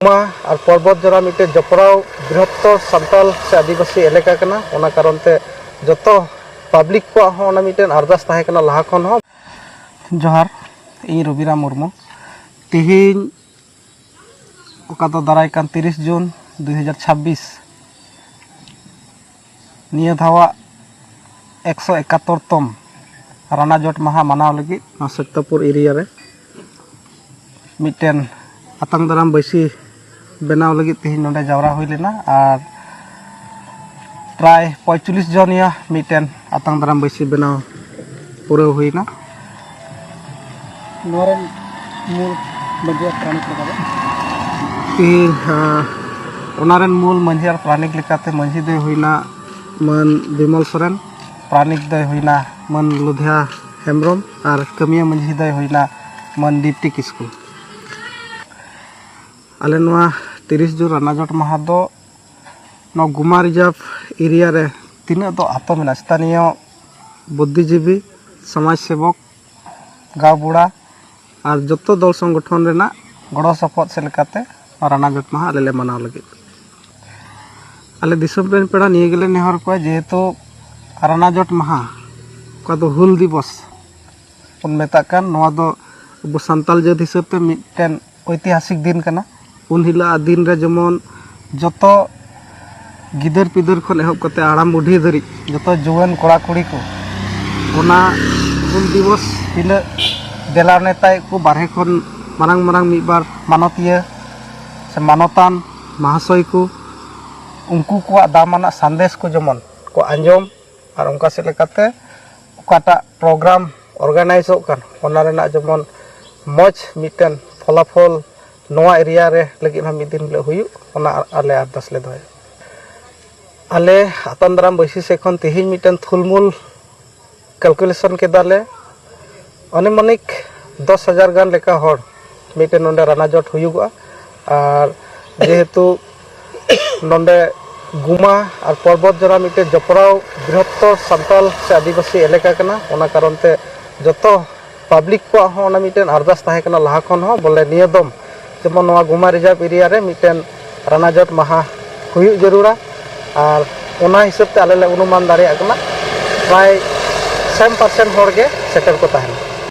ᱢᱟ ᱟᱨ ᱯᱚᱨᱵᱚᱛ ᱡᱚᱲᱟ ᱢᱤᱫᱴᱮᱱ ᱡᱚᱯᱲᱟᱣ ᱵᱨᱤᱦᱚᱛᱛᱚᱨ ᱥᱟᱱᱛᱟᱞ ᱥᱮ ᱟᱹᱫᱤᱵᱟᱹᱥᱤ ᱮᱞᱟᱠᱟ ᱠᱟᱱᱟ ᱚᱱᱟ ᱠᱟᱨᱚᱱ ᱛᱮ ᱡᱚᱛᱚ ᱯᱟᱵᱽᱞᱤᱠ ᱠᱚᱣᱟᱜ ᱦᱚᱸ ᱚᱱᱟ ᱢᱤᱫᱴᱮᱱ ᱟᱨᱫᱟᱥ ᱛᱟᱦᱮᱸ ᱠᱟᱱᱟ ᱞᱟᱦᱟ ᱠᱷᱚᱱ ᱦᱚᱸ ᱡᱚᱦᱟᱨ ᱤᱧ ᱨᱚᱵᱤᱨᱟᱢ ᱢᱩᱨᱢᱩ ᱛᱮᱦᱮᱧ ᱚᱠᱟ ᱫᱚ ᱫᱟᱨᱟᱭ ᱠᱟᱱ ᱛᱤᱨᱤᱥ ᱡᱩᱱ ᱫᱩ ᱦᱟᱡᱟᱨ ᱪᱷᱟᱵᱽᱵᱤᱥ ᱱᱤᱭᱟᱹ ᱫᱷᱟᱣᱟᱜ ᱮᱠᱥᱚ ᱮᱠᱟᱛᱚᱨ ᱛᱚᱢ ᱨᱟᱱᱟ ᱡᱚᱴ ᱢᱟᱦᱟ ᱢᱟᱱᱟᱣ ᱞᱟᱹᱜᱤᱫ ᱱᱚᱣᱟ ᱥᱚᱠᱛᱟᱯᱩᱨ ᱮᱨᱤᱭᱟ ᱨᱮ ᱢᱤᱫᱴᱮᱱ ᱟᱛᱟᱝ ᱫᱟᱨᱟᱢ ᱵᱟᱹᱭᱥᱤ ᱵᱮᱱᱟᱣ ᱞᱟᱹᱜᱤᱫ ᱛᱮᱦᱮᱧ ᱱᱚᱰᱮ ᱡᱟᱣᱨᱟ ᱦᱩᱭ ᱞᱮᱱᱟ ᱟᱨ ᱯᱨᱟᱭ ᱯᱚᱸᱭᱛᱟᱞᱞᱤᱥ ᱡᱚᱱᱤᱭᱟ ᱢᱤᱫᱴᱮᱱ ᱟᱛᱟᱝ ᱫᱟᱨᱟᱢ ᱵᱟᱹᱭᱥᱤ ᱵᱮᱱᱟᱣ ᱯᱩᱨᱟᱹᱣ ᱦᱩᱭᱱᱟ ᱱᱚᱣᱟ ᱨᱮᱱ ᱢᱩᱞ ᱢᱟᱺᱡᱷᱤ ᱟᱨ ᱯᱟᱨᱟᱱᱤᱠ ᱞᱮᱠᱟ ᱫᱚ ᱤᱧ ᱦᱟᱸ, ᱚᱱᱟ ᱨᱮᱱ ᱢᱩᱞ ᱢᱟᱺᱡᱷᱤ ᱟᱨ ᱯᱨᱟᱱᱤᱠ ᱞᱮᱠᱟᱛᱮ ᱢᱟᱺᱡᱷᱤ ᱫᱚᱭ ᱦᱩᱭᱱᱟ ᱢᱟᱹᱱ ᱵᱤᱢᱚᱞ ᱥᱚᱨᱮᱱ ᱯᱨᱟᱱᱤᱠ ᱫᱚᱭ ᱦᱩᱭᱱᱟ ᱢᱟᱹᱱ ᱞᱩᱫᱷᱤᱭᱟ ᱦᱮᱢᱵᱨᱚᱢ ᱟᱨ ᱠᱟᱹᱢᱤᱭᱟᱹ ᱢᱟᱺᱡᱷᱤ ᱫᱚᱭ ᱦᱩᱭᱱᱟ ᱢᱟᱹᱱ ᱫᱤᱯᱛᱤ ᱠᱤᱥᱠᱩ ᱟᱞᱮ ᱱᱚᱣᱟ ᱛᱤᱨᱤᱥ ᱡᱩᱱ ᱨᱟᱱᱟᱡᱚᱴ ᱢᱟᱦᱟ ᱫᱚ ᱱᱚᱣᱟ ᱜᱩᱢᱟ ᱨᱤᱡᱟᱨᱵᱷ ᱮᱨᱤᱭᱟ ᱨᱮ ᱛᱤᱱᱟᱹᱜ ᱫᱚ ᱟᱛᱳ ᱢᱮᱱᱟᱜᱼᱟ ᱥᱛᱷᱟᱱᱤᱭᱚ ᱵᱩᱫᱽᱫᱷᱤᱡᱤᱵᱤ, ᱥᱚᱢᱟᱡᱽ ᱥᱮᱵᱚᱠ, ᱜᱟᱣᱵᱩᱲᱟ ᱟᱨ ᱡᱚᱛᱚ ᱫᱚᱞ ᱥᱚᱝᱜᱚᱴᱷᱚᱱ ᱨᱮᱱᱟᱜ ᱜᱚᱲᱚ ᱥᱚᱯᱚᱦᱚᱫ ᱥᱮᱫ ᱞᱮᱠᱟᱛᱮ ᱱᱚᱣᱟ ᱨᱟᱱᱟ ᱡᱚᱴ ᱢᱟᱦᱟ ᱟᱞᱮ ᱞᱮ ᱢᱟᱱᱟᱣ ᱞᱟᱹᱜᱤᱫ᱾ ᱟᱞᱮ ᱫᱤᱥᱚᱢ ᱨᱮᱱ ᱯᱮᱲᱟ ᱱᱤᱭᱟᱹ ᱜᱮᱞᱮ ᱱᱮᱦᱚᱨ ᱠᱚᱣᱟ ᱡᱮᱦᱮᱛᱩ ᱨᱟᱱᱟ ᱡᱚᱴ ᱢᱟᱦᱟ ᱚᱠᱟ ᱫᱚ ᱦᱩᱞ ᱫᱤᱵᱚᱥ ᱵᱚᱱ ᱢᱮᱛᱟᱜ ᱠᱟᱱ ᱱᱚᱣᱟ ᱫᱚ ᱟᱵᱚ ᱥᱟᱱᱛᱟᱞ ᱡᱟᱹᱛ ᱦᱤᱥᱟᱹᱵᱽ ᱛᱮ ᱢᱤᱫᱴᱮᱱ ᱳᱭᱛᱤᱦᱟᱥᱤᱠ ᱫᱤᱱ ᱠᱟᱱᱟ ᱩᱱ ᱦᱤᱞᱳᱜ ᱫᱤᱱ ᱨᱮ ᱡᱮᱢᱚᱱ ᱡᱚᱛᱚ ᱜᱤᱫᱟᱹᱨ ᱯᱤᱫᱟᱹᱨ ᱠᱷᱚᱱ ᱮᱦᱚᱵ ᱠᱟᱛᱮ ᱦᱟᱲᱟᱢ ᱵᱩᱰᱷᱤ ᱫᱷᱟᱹᱨᱤᱡ ᱡᱚᱛᱚ ᱡᱩᱣᱟᱹᱱ ᱠᱚᱲᱟ ᱠᱩᱲᱤ ᱠᱚ ᱚᱱᱟ ᱦᱩᱞ ᱫᱤᱵᱚᱥ ᱦᱤᱞᱳᱜ ᱫᱮᱞᱟ ᱱᱮᱣᱛᱟᱭᱮᱫ ᱠᱚ ᱵᱟᱦᱨᱮ ᱠᱷᱚᱱ ᱢᱟᱨᱟᱝ ᱢᱟᱨᱟᱝ ᱢᱤᱫ ᱵᱟᱨ ᱢᱟᱱᱚᱛᱤᱭᱟᱹ ᱥᱮ ᱢᱟᱱᱚᱛᱟᱱ ᱢᱚᱦᱟᱥᱚᱭ ᱠᱚ ᱩᱱᱠᱩ ᱠᱚᱣᱟᱜ ᱫᱟᱢᱟᱱᱟᱜ ᱥᱟᱸᱫᱮᱥ ᱠᱚ ᱡᱮᱢᱚᱱ ᱠᱚ ᱟᱸᱡᱚᱢ ᱟᱨ ᱚᱱᱠᱟ ᱥᱮᱫ ᱞᱮᱠᱟᱛᱮ ᱚᱠᱟᱴᱟᱜ ᱯᱨᱳᱜᱨᱟᱢ ᱚᱨᱜᱟᱱᱟᱭᱤᱡᱚᱜ ᱠᱟᱱ ᱚᱱᱟ ᱨᱮᱱᱟᱜ ᱡᱮᱢᱚᱱ ᱢᱚᱡᱽ ᱢᱤᱫᱴᱮᱱ ᱯᱷᱚᱞᱟᱯᱷᱚᱞ ᱱᱚᱣᱟ ᱮᱨᱤᱭᱟ ᱨᱮ ᱞᱟᱹᱜᱤᱫ ᱦᱚᱸ ᱢᱤᱫ ᱫᱤᱱ ᱦᱤᱞᱳᱜ ᱦᱩᱭᱩᱜ ᱚᱱᱟ ᱟᱞᱮ ᱟᱨᱫᱟᱥ ᱞᱮ ᱫᱚᱦᱚᱭᱟ ᱟᱞᱮ ᱟᱛᱟᱝ ᱫᱟᱨᱟᱢ ᱵᱟᱹᱭᱥᱤ ᱥᱮᱫ ᱠᱷᱚᱱ ᱛᱮᱦᱮᱧ ᱢᱤᱫᱴᱮᱱ ᱛᱷᱩᱞᱢᱩᱞ ᱠᱟᱞᱠᱩᱞᱮᱥᱚᱱ ᱠᱮᱫᱟᱞᱮ ᱟᱱᱩᱢᱟᱱᱤᱠ ᱫᱚᱥ ᱦᱟᱡᱟᱨ ᱜᱟᱱ ᱞᱮᱠᱟ ᱦᱚᱲ ᱢᱤᱫᱴᱮᱱ ᱱᱚᱰᱮ ᱨᱟᱱᱟ ᱡᱚᱴ ᱦᱩᱭᱩᱜᱚᱜᱼᱟ ᱟᱨ ᱡᱮᱦᱮᱛᱩ ᱱᱚᱰᱮ ᱜᱩᱢᱟ ᱟᱨ ᱯᱚᱨᱵᱚᱛ ᱡᱚᱲᱟ ᱢᱤᱫᱴᱮᱱ ᱡᱚᱯᱲᱟᱣ ᱵᱨᱤᱦᱚᱛᱛᱚᱨ ᱥᱟᱱᱛᱟᱲ ᱥᱮ ᱟᱹᱫᱤᱵᱟᱹᱥᱤ ᱮᱞᱟᱠᱟ ᱠᱟᱱᱟ ᱚᱱᱟ ᱠᱟᱨᱚᱱ ᱛᱮ ᱡᱚᱛᱚ ᱯᱟᱵᱽᱞᱤᱠ ᱠᱚᱣᱟᱜ ᱦᱚᱸ ᱚᱱᱟ ᱢᱤᱫᱴᱮᱱ ᱟᱨᱫᱟᱥ ᱛᱟᱦᱮᱸ ᱠᱟᱱᱟ ᱞᱟᱦᱟ ᱠᱷᱚᱱ ᱦᱚᱸ ᱵᱚᱞᱮ ᱱᱤᱭᱟᱹ ᱫᱚᱢ ᱡᱮᱢᱚᱱ ᱱᱚᱣᱟ ᱜᱩᱢᱟ ᱨᱤᱡᱟᱨᱵᱽ ᱮᱨᱤᱭᱟ ᱨᱮ ᱢᱤᱫᱴᱮᱱ ᱨᱟᱱᱟᱡᱚᱴ ᱢᱟᱦᱟ ᱦᱩᱭᱩᱜ ᱡᱟᱹᱨᱩᱲᱟ ᱟᱨ ᱚᱱᱟ ᱦᱤᱥᱟᱹᱵᱽ ᱛᱮ ᱟᱞᱮ ᱞᱮ ᱚᱱᱩᱢᱟᱱ ᱫᱟᱲᱮᱭᱟᱜ ᱠᱟᱱᱟ ᱯᱨᱟᱭ ᱥᱮᱢ ᱯᱟᱨᱥᱮᱱ ᱦᱚᱲ ᱜᱮ ᱥᱮᱴᱮᱨ ᱠᱚ ᱛᱟᱦᱮᱱᱟ